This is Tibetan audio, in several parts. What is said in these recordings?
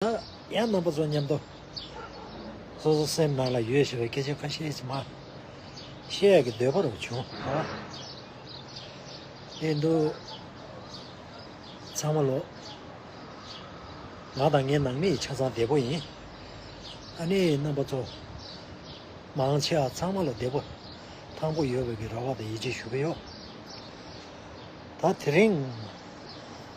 ཡང་རྣམ་པ་ཚོ་མཉམ་དུ། སོ་སོ་སེམས་ནང་ལ་ཡོད་ཞེས་པའི་སྐད་ཆ་ཁ་ཤས་ཀྱིས་མ། ཤེས་ཡག་གི་འདོད་པ་རུ་བྱུང། ཨེ་འདུག། ཚང་མ་ལོག། ང་དང་ངའི་ནང་མི་ཡི་ཆ་ཚང་བདེ་པོ་ཡིན། ཨ་ནེའི་རྣམ་པ་ཚོ། མང་ཆེ་བ་ཚང་མ་ལ་བདེ་པོ། ཐང་པོ་ཡོད་པའི་གི་ར་བ་དང་ཡིད་ཆེས་ཞུ་གི་ཡོད། ད་དེ་རིང།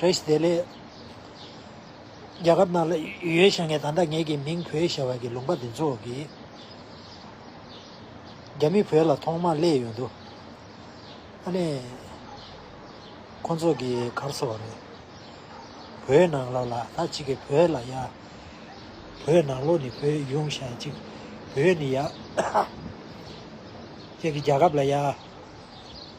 རེས་དེ་ལས། རྒྱ་གར་ནང་ལ་ཡོད་ཞེས་ངས་ད་ལྟ་ངེད་ཀྱི་མིང་བོད་ཞེས་བ་གི་ལུང་པ་འདི་ཚོ་གིས། རྒྱ་མི་བོད་ལ་ཐོག་མར་སླེབས་ཡོད་འདུག་ཨ་ནི། ཁོ་ཚོ་གིས་གར་ས་བ་རེད། བོད་ནང་ལོགས་ལ་ད་ཅིག་གིས་བོད་ལ་ཡ། བོད་ནང་ལོགས་ནི་བོད་གཞུང་ཞ་ཅིག་བོད་ནི་ཡ། ཅིག་གིས་རྒྱ་ཁབ་ལ་ཡ།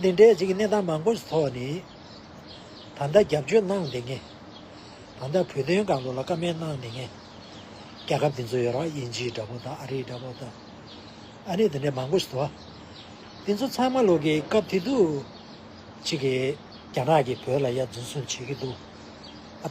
འདི་འདྲའི་གཅིག་གནས་སྟངས་མང་པོ་ཞིག་ཐོག་ནས་ད་ལྟ་རྒྱབ་སྐྱོར་གནང་འདི་ངས། ད་ལྟ་བོད་དོན་དགའ་ལོ་ལ་བཀའ་མེད་གནང་འདི་ངས། རྒྱལ་ཁབ་འདི་ཚོ་ཡོ་རག་དབྱིན་ཇིའི་འདྲ་པོ་དང་ཨ་རིའི་འདྲ་པོ་དང། ཨ་ནི་འདི་འདྲའི་མང་པོ་ཞིག་ཐོག་འདི་ཚོ་ཚང་མ་ལོག་གི་སྐབས་དེ་དུས་གཅིག་རྒྱ་ནག་གིས་བོད་ལ་ཡར་འཛིན་བཟུང་བྱེད་ཀྱི་འདུག་ཨ།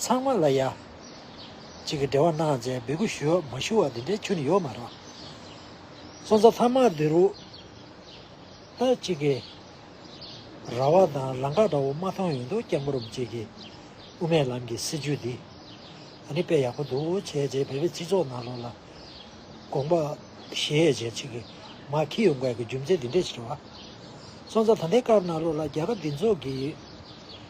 ཚང་མ་ལ་ཡ། གཅིག་གི་འབྲེལ་བ་གནང་མཛད་འབོད་སྐུལ་ཞུ་ཡོག་མ་ཞུ་བ་འདི་འདྲའི་ཆུ་ནི་ཡོག་མ་རག། སོ་ཚ་ཐ་མག་འདི་རུ། ད་གཅིག་གི། ར་བ་དང་རང་ཁ་འདྲ་བོ་མ་མཐོང་ཡོད་འདུག་སྐྱག་མོ་རུམ་གཅིག་གི། དབུ་མའི་ལམ་གྱི་སྲིད་བྱུས་འདི། ད་ནི་དཔེ་ཡག་པོ་འདུག་བྱས་རྗེས་བོད་པའི་སྤྱི་ཚོགས་ནང་ལོག་ལ། དགོངས་པ། ཞེས་བྱས་གཅིག་གི། མ་ཁི་ཡོ་འགའ་གི་རྒྱུ་མཚན་འདི་འདྲས་ཆེ་བ། སོ་ཚ་ད་ལྟའི་སྐར་ནང་ལོག་ལ་རྒྱ་གར་འདི་ཚོགས་ཀྱི།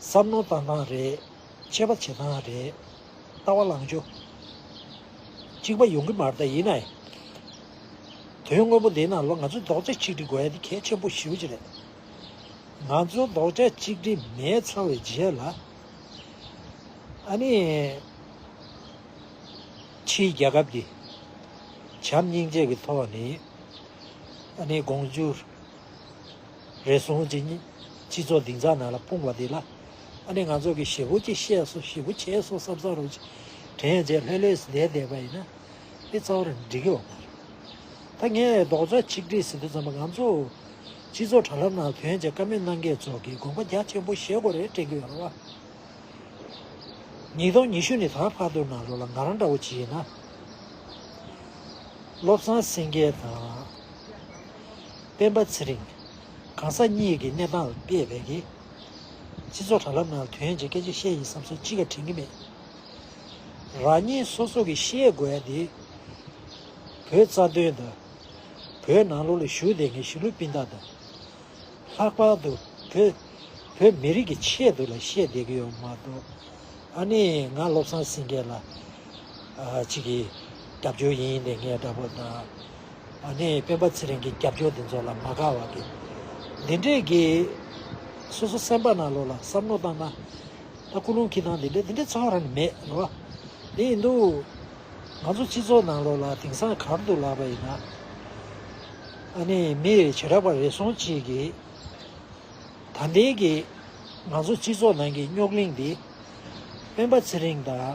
བསམ་མནོ་བཏང་སྟངས་རེད། འཆད་པ་བྱེད་སྟངས་རེད། ལྟ་བ་ལངས་ཕྱོགས་གཅིག་པ་ཡོང་གི་མ་རེད། ཡིན་ནའི། དོན་དངོས་པོ་འདིའི་ནང་ལོ་ང་ཚོས་རྡོག་ཆ་གཅིག་སྒྲིལ་དགོས་ཡ་འདི་གལ་ཆེན་པོ་ཞེ་བོ་གཅིག་རེད། ང་ཚོ་རྡོག་ཆ་གཅིག་སྒྲིལ་མེད་ཚར་བའི་རྗེས་ལ། ཨ་ནི། ཕྱིའི་རྒྱལ་ཁབ་འདི། བྱམས་སྙིང་རྗེ་གི་ཐོག་ནས། ཨ་ནི་དགོངས་བརྒྱུད། རེ་ཟུང་ཇི་སྙེད་སྤྱི་ཚོགས་སྡིག་འཛག་ནང་ལ་སྤུངས་བ་འདི་ལ། ཨ་ནི་ང་ཚོ་གི་ཞེ་བུ་ཅིག་ཤེས་སོ་ཞེ་བུ་བྱས་སོ་བསམ་བསམ་རུང་ཅིག་དྲན་ཡང་རྗེས་ལྷོད་ལྷོད་བསྡད་བསྡད་པ་ཡིན་ན། མི་གཙང་བོར་འགྲིག་གི་འོང་བ་རེད། ད་ངས་རྡོག་རྩ་ཆིག་སྒྲིལ་ཟེར་དུས་ཙམ་པ་ང་ཚོ། སྤྱི་ཚོགས་དྲ་ལམ་ནང་དོན་བྱས་ཀ་མེད་གནང་མཁན་ཚོ་གིས་དགོངས་པ་རྒྱ་ཆེན་པོ་བཞེས་དགོས་རེད་དྲན་གི་ཡོད་རེད་བ། ཉིས་སྟོང་ཉི་ཤུ་ནི་ད་བར་དུ་ནང་ལོག་ལ་ང་རང་འདྲ་བོ་ཇི་ཡིན་ན། བློ་བཟང་སེང་གེ་དང། སྤེན་པ་ཚེ་རིང། གང་ཟག་གཉིས་ཀྱི་གནས་སྟངས་ལ་དཔེ་བལ་གྱིས། སྤྱི་ཚོགས་དྲ་ལམ་ནང་ལ་དུས་ཡན་གྱི་སྐད་ཆ་བཤད་ཡིན་བསམ་སོང་ཅི་ག་དྲན་གྱི་མེད། རང་ཉིད་སོ་སོ་གྱིས་ཤེས་དགོས་ཡ་དེ། བོད་རྩ་དོན་དང། བོད་ནང་ལོགས་ལ་ཞུགས་བསྡད་མཁན་གཞིས་ལུས་སྤུན་ཟླ་དང། ལྷག་པར་དུ་བོད་བོད་མི་རིགས་ཀྱི་ཆེད་དུ་ལ་བཤད་བསྡད་ཀྱི་ཡོད་མ་གཏོགས། ཨ་ནི་ང་བློ་བཟང་སེང་གེ་ལ། ཅིག་གིས་རྒྱབ་སྐྱོར་ཡིན་ཡིན་ཏེ་ངས་འདྲ་པོ་དང། ཨ་ནེ་ཡིས་སྤེན་པ་ཚེ་རིང་གི་རྒྱབ་སྐྱོར་འདི་ཚོ་ལ་མ་དགའ་བ་གི། འདི་འདྲས་གི། སོ་སོ་སེམས་པ་ན་ལོ་ལ་བསམ་བློ་བཏང་ན། ད་སྐུ་རླུང་ཁྱི་སྟངས་འདི་འདྲས་འདི་འདྲས་ཚོར་བ་རང་མེད་རེད་བ། དེ་ཡིན་དུས། ང་ཚོ་སྤྱི་ཚོགས་ནང་ལོ་ལ་དེང་སང་གར་འདུག་ལགས་པ་ཡིན་ན། ཨ་ནེ་ཡིས་མི་རེ་བྱེ་བྲག་པ་རེ་ཟུང་གཅིག་གི། ད་ལྟའི་གི། ང་ཚོ་སྤྱི་ཚོགས་ནང་གི་རྙོག་གླིང་འདི། སྤེན་པ་ཚེ་རིང་དང།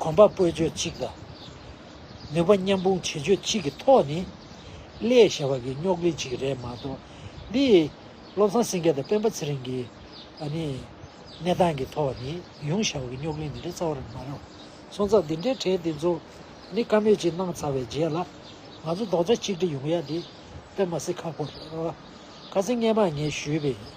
གོམ་པ་སྤོས་སྤྱོད་གཅིག་དང། ནུས་པ་མཉམ་སྤུངས་བྱེད་སྤྱོད་གཅིག་གི་ཐོག་ནས། ཀླད་ཞེས་པ་གི་རྙོག་གླེང་གཅིག་རེད་མ་གཏོགས། འདི། བློ་བཟང་སེང་གེ་དང་སྤེན་པ་ཚེ་རིང་གི། ཨ་ནི། གནས་སྟངས་ཀྱི་ཐོག་ནས་ཡོང་ཞེས་པ་གི་རྙོག་གླེང་འདི་འདྲའི་རྩ་བ་རང་མ་རེད། སོང་ཙང་འདི་འདྲའི་གྲས་འདི་ཚོ། ནི་དཀའ་མོས་གཅིག་གནང་ཚར་བའི་རྗེས་ལ། ང་ཚོ་རྡོག་རྩ་གཅིག་སྒྲིལ་ཡོང་ཡ་འདི། སྤེན་པ་སེ་ཁ་ཁོ། ཁ་ཚིག་སྙན་པ་ངས་ཞུས་པའི།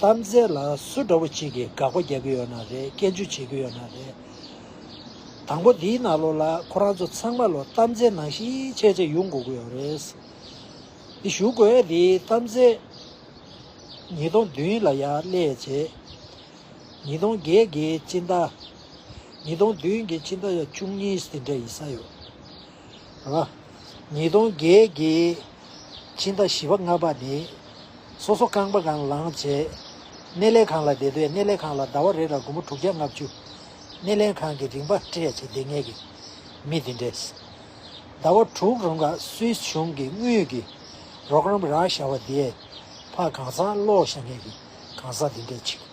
གཏམ་རྩལ་ལ་སུ་འདྲ་བོ་ཅིག་གིས་དགག་པ་རྒྱག་གི་ཡོད་ན་རེད་སྐྱེལ་བརྗོད་བྱེད་ཀྱི་ཡོད་ན་རེད། དང་པོ་འདིའི་ནང་ལོགས་ལ་ཁོ་རང་ཚོ་ཚང་མ་ལོ་གཏམ་རྩལ་ནང་བཞིན་ཆེད་ཆེད་ཡུག་འགོ་གི་ཡོད་རེད། འདི་ཞུ་དགོས་ཡ་འདིའི་གཏམ་རྩལ། ཉིས་སྟོང་བདུན་ལ་ཡ་ཀླད་བྱེད། ཉིས་སྟོང་བརྒྱད་ཀྱི་སྤྱི་ཟླ། ཉིས་སྟོང་བདུན་གྱི་སྤྱི་ཟླ་ཡ་བཅུ་གཉིས་འདི་འདྲ་ཡིན་ས་ཡོད། ལ། ཉིས་སྟོང་བརྒྱད་ཀྱི་ཕྱི་ཟླ་བཞི་བ་ལྔ་བ་ནི། སོ་སོ་རྐང་པ་གང་ལངས་བྱས། སྣེ་ལེན་ཁང་ལ་དེ་སྡོད་སྣེ་ལེན་ཁང་ལ་ཟླ་བ་རེ་ལ་དགུང་མོ་དྲུག་བརྒྱ་ལྔ་བཅུ། སྣེ་ལེན་ཁང་གི་རིན་པ་སྤྲད་བྱས་སྡེ་ལྔའི་གི་མི་དེ་འདྲས། ཟླ་བ་དྲུག་རུང་ག་སུས་བྱུང་གི་དངུལ་གི་རོགས་རམ་རག་ཤ་བ་དེས་ཕ་གང་ཟག་བློ་ཤ་ངན་གི་གང་ཟག་དེ་འདྲས་བྱེད།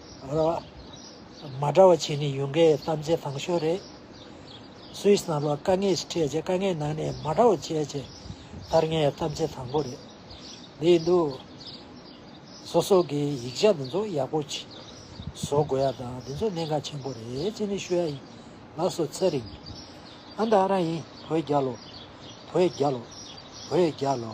ལ། མ་འདྲ་བ་བྱས་ནས་ཡོང་མཁན་གཏམ་རྗེས་ཐང་ཤོས་རེད། Swiss ནང་ལ་དཀའ་ངལ་ཞིག་འཕྲད་རྗེས་དཀའ་ངལ་ནང་ནས་མ་འདྲ་བ་བྱས་རྗེས་མཐར་ངའི་གཏམ་རྗེས་ཐང་པོ་རེད་འདི་ཡིན་འདུག། སོ་སོ་གི་ཡིག་ཆ་འདི་ཚོ་ཡག་པོ་ཅིག་བཟོ་དགོས་ཡ་དང་འདི་ཚོ་གནད་འགག་ཆེན་པོ་རེད་ཅེས་ནི་ཤོད་ཡ་ཡིན། ལགས་སོ་ཚེ་རིང། ཨ་མདའ་ཨ་ར་ཡིན་བོད་རྒྱ་ལོ། བོད་རྒྱ་ལོ། བོད་རྒྱ་ལོ།